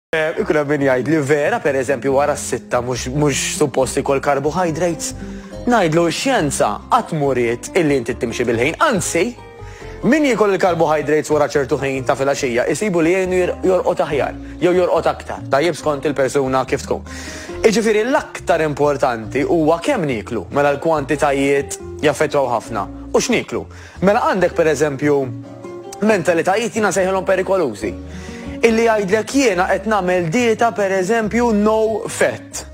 Ikun hemm min jgħid li vera, per eżempju, wara s-sitta mhux suppost ikol carbohydrates. Ngħidlu x-xjenza qatt m'uriet illi inti timxi bil-ħin, anzi, min jiekol il-carbohydrates wara ċertu ħin ta' filgħaxija isibu li jgħinu jorqod aħjar jew jorqod aktar tajjeb skont il-persuna kif tkun. Jiġifieri l-aktar importanti huwa kemm nieklu, mela l-kwantitajiet jaffettwaw ħafna u x'nieklu. Mela għandek pereżempju mentalitajiet jiena nsejħilhom perikolużi. Illi jgħidlek jiena qed nagħmel dieta pereżempju no fett.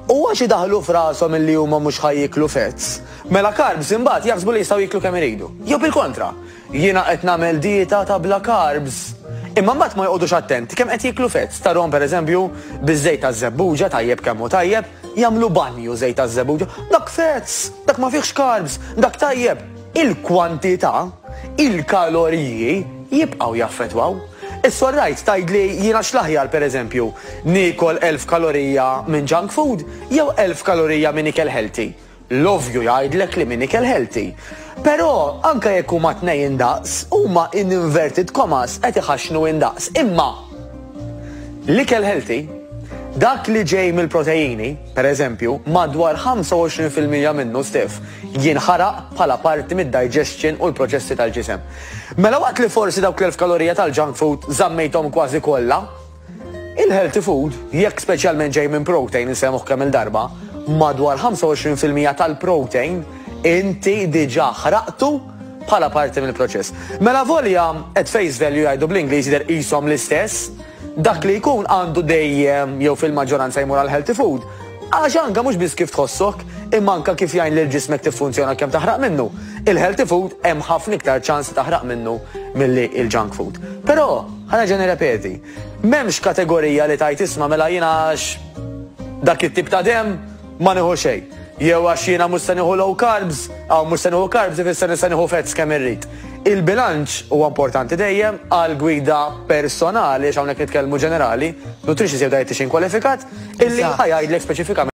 U għax idaħħlu f'rashom illi huma mhux ħa jieklu fats, mela carbs imbagħad jaħsbu li jistgħu jieklu kemm iridu. Jew bil-kontra, jiena qed nagħmel dieta ta' bla carbs. Imma mbagħad ma joqgħodux attenti kemm qed jieklu fats. Tarhom pereżempju biż-żejt taż-żebbuġa tajjeb kemm hu tajjeb, jagħmlu banju żejt taż-żebbuġa. Dak fats, dak ma fihx carbs, dak tajjeb. Il-kwantità, il-kaloriji, jibqgħu jaffettwaw. Is-sorrajt tgħidli jiena x'l-aħjar, pereżempju, niekol elf kalorija minn junk food jew elf kalorija minn ikel healthy? L-ovvju jgħidlek li minn ikel healthy. Però, anke jekk huma t-tnejn indaqs, huma in inverted commas qed iħaxxnu indaqs. Imma. L-ikel healthy, dak li ġej mill-proteini, pereżempju, madwar 25 fil-mija minnu stess jinħaraq bħala parti mid-digestion u l-proċessi tal-ġisem. Mela waqt li forsi dawk l-elf kalorija tal-junk food żammejthom kważi kollha, il-healthy food, jekk speċjalment ġej minn protein insemmuh kemm il-darba, madwar 25 fil-mija tal-protein inti diġà ħraqtu bħala parti mill-proċess. Mela volja at face value jgħidu bl-Ingliż jidher qishom l-istess, dak li jkun għandu dejjem jew fil-maġġoranza jmur għal healthy food. Għax anka mhux biss kif tħossok, imma anka kif jgħin lil ġismek tiffunzjona kemm taħraq minnu. Il-healthy food hemm ħafna iktar ċans taħraq minnu milli il-junk food. Però, ħana ġeni repeti, m'hemmx kategorija li tajt isma' mela jiena dak it-tip ta' dem Ma nieħu xejn. Jew għax jiena mhux se nieħu low carbs, hawn mhux se nieħu carbs ifisser li se nieħu fats kemm irrid. Il-bilanċ huwa importanti dejjem għal gwida personali għax hawnhekk nitkellmu ġenerali, nutritionist jew dietician kwalifikat, illi ħa jgħidlek speċifikament.